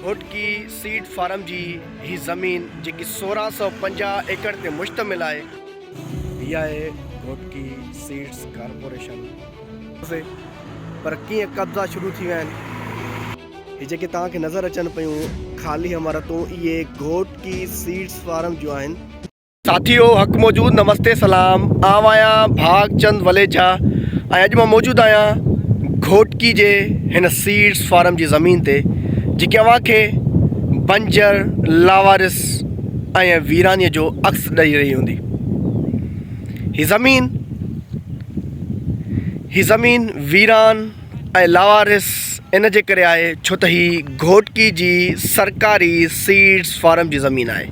Ghotki seed farm جي هي زمين جيڪي سورهن سؤ پنجاهه ايڪڙ تي مشتمل آهي، هي آهي گهوٽڪي سيڊز ڪارپوريشن. پر ڪيئن قبضا شروع ٿي ويا آهن. هي جيڪي توهان کي نظر اچن پيون خالي عمارتون اهي گهوٽڪي سيڊز فارم جون آهن. ساٿيو حق موجود نمستي سلام آئون آهيان ڀاڳ چند وليجا ۽ اڄ مان موجود آهيان گهوٽڪي جي هن سيڊس فارم جي زمين تي جيڪي اوهان کي بنجر لاوارس ۽ ويراني جو عڪس ڏئي رهي هوندي هي زمين هي زمين ويران ۽ لاوارس ان جي ڪري آهي ڇو ته هي گهوٽڪي جي سرڪاري سيڊس فارم جي زمين آهي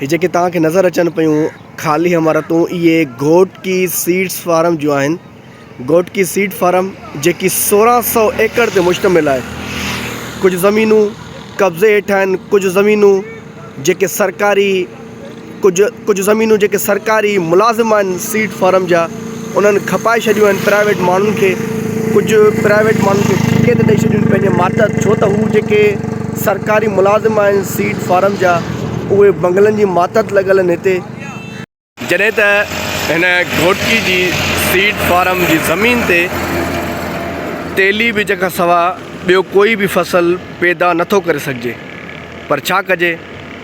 هي جيڪي توهان کي نظر اچن پيون خالي عمارتون اهي گهوٽڪي سيڊس فارم جون آهن. گهوٽڪي سيڊ فارم جيڪي سورهن سؤ ايڪڙ تي مشتمل آهي. ڪجهه زمينون قبضي هيٺ آهن ڪجهه زمينون جيڪي سرڪاري ڪجهه ڪجهه زمينون جيڪي سرڪاري ملازم آهن سيڊ فارم جا. انهن کپائي ڇڏيون آهن پرائيويٽ ماڻهن کي ڪجهه پرائيويٽ ماڻهن کي ٺيڪي تي ڏئي ڇڏيون پنهنجي ماتحت ڇو ته هو جيڪي سرڪاري ملازم آهن سيڊ فارم جا اهي بنگلن جي ماتحت لڳل آهن هتي جڏهن ته هن گهوٽڪي جي سيڊ فارم جي زمين تي تيلي ٻج کان سوا ٻيو ڪوئي به فصل پيدا نٿو ڪري سگهجي پر ڇا ڪجي.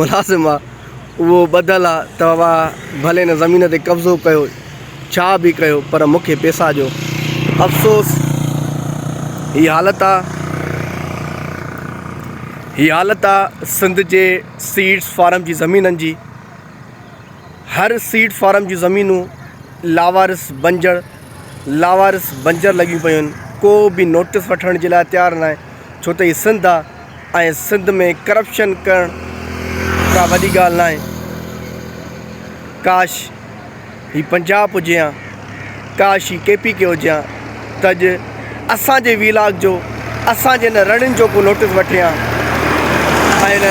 ملازم آ اهو ٻڌل آ توهان ڀلي هن زمين تي قبضو ڪيو ڇا به ڪيو پر مون کي پيسا ڏيو افسوس هي حالت آ هي حالت آ سنڌ جي سيڊس فارم جي زمينن جي هر سيڊ فارم جون زمينون لاوارس بنجر لاوارس بنجر لڳيون پيون آهن ڪو به نوٽس وٺڻ جي لاء تيار ناهي ڇو ته هي سنڌ آ ۽ سنڌ ۾ ڪرپشن ڪرڻ ڪا وڏي ڳالهه ناهي. ڪاش هي پنجاب هجي ها ڪاش هي ڪي پي ڪي هجي ها ته اڄ اسان جي وي لاگ جو اسان جي هن رڙين جو ڪو نوٽس وٺي ها ۽ هن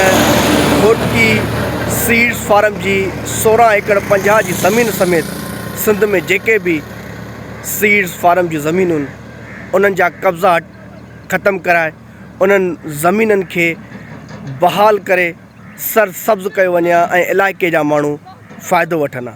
گهوٽڪي سيڊس فارم جي سورهن ايڪڙ پنجاهه جي زمين سميت سنڌ ۾ جيڪي به سيڊس فارم جون زمينون انهن جا قبضا ختم ڪرائي انهن زمينن کي بحال ڪري سرسبز ڪيو وڃي ها ۽ علائقي جا ماڻهو فائدو وٺن ها.